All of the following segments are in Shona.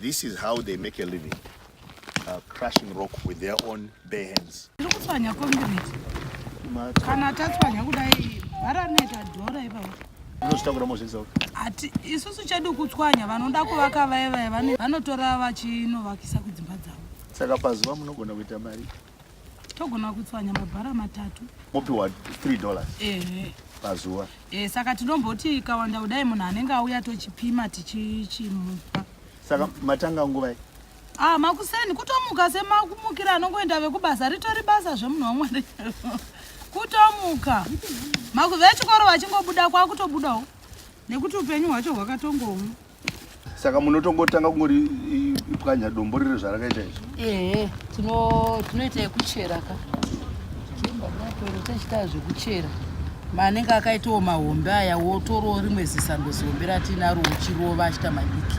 This is how they make a living. Uh, crushing rock with their own bare hands. Tikutswanya concrete. Kana tatswanya kudai varaneta dhora ipapo. Unozitakura mozvisa uko. Ati isusu chedu kutswanya vanoda kuvaka vaye vaye vanotora vachinovakisa kudzimba dzavo. Saka pazuva munogona kuita mari. togona kutswanya mabhara matatu mopiwa 3 dollars ehe pazuva e, saka tinomboti ikawanda kudai munhu anenge auya tochipima tichichimupa saka matanga nguvai ah makuseni kutomuka semakumukira anongoenda vekubasa ritori basa zvemunhu wamwari kutomuka makuve chikoro vachingobuda kwakutobudawo nekuti upenyu hwacho hwakatongomu saka munotongotanga kungori pwanya dombo riri zvarakaita izvi ehe tinoita yekuchera ka tichitaa zvekuchera manenge akaitawo mahombe aya wotorawo rimwe zisando zihombe ratinaro uchirova achita madiki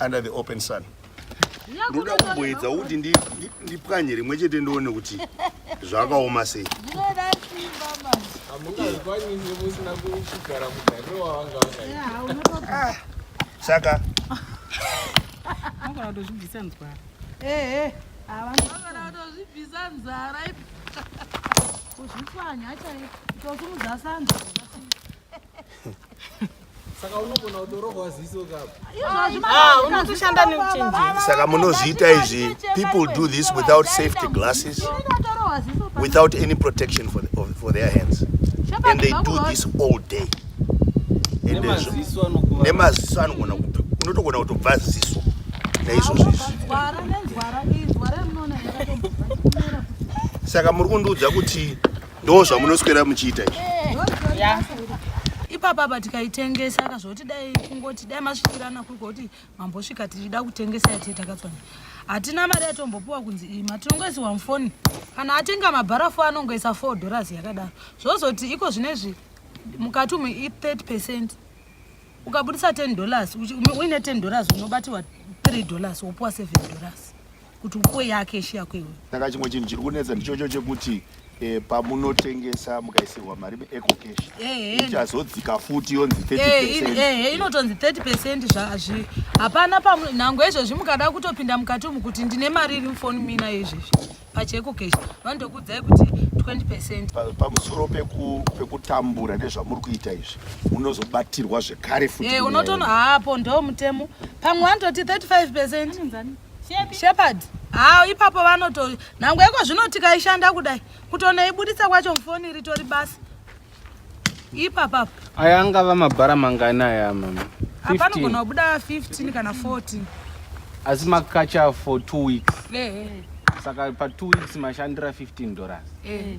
under the open sun ndoda kumboedza kuti ndipwanye rimwe chete ndione kuti zvakaoma sei ah, saka kuzvipwanya chaiozumuzasanza Saka unogona kutorohwa ziso kapo. Ah, unotoshanda neuchenjeri. Saka munozviita izvi. People do this without safety glasses. Without any protection for, the, for their hands. And they do this all day. Nemaziso anogona kupi. Unotogona kutobva ziso. Naizvozvo izvi. Saka muri kundiudza kuti Ndo zvamunoswera muchiita izvi. Yeah. Ipapa apa tikaitengesa ka zvoti dai kungoti dai masvikirana kuri kuti mambosvika tichida kutengesa yati takatswana. Hatina mari yatombopuwa kunzi iyi matinongoisiwa mufoni. Kana atenga mabharafu anongoisa 4 dollars yakadaro. Zvozoti iko zvinezvi mukati umu i 30% ukabudisa 10 dollars uine 10 dollars unobatirwa 3 dollars wopuwa 7 dollars. kuti upuwe yake ishi yako iwe saka chimwe chinhu chiri kunetsa ndichocho chekuti eh, pamunotengesa mukaisirwa mari meeco cash Ehe. ichazodzika futi yonzi 30 Eh, in- percent eh, inotonzi 30 percent zvaazvi hapana pamwe nhango izvozvi mukada kutopinda mukati umu kuti ndine mari iri mufoni mina izvezvi pacheko cash vanotokuudzai kuti 20 percent Pa- pamusoro peku- pekutambura nezvamuri kuita izvi munozobatirwa zvekare futi Eh, nyaya unotono iyi. haapo ndo mutemo pamwe vanototi 35 percent Anonzani? Shepherd haa ipapo vanoto nhango yeko zvino tikaishanda kudai kutonoibuditsa kwacho mufoni ritori basa ipapapo aya angava mabhara mangani aya mama apanogona kubuda 15 kana 14 asi makacha for two weeks eh, eh. saka pa two weeks mashandira 15 dollars eh.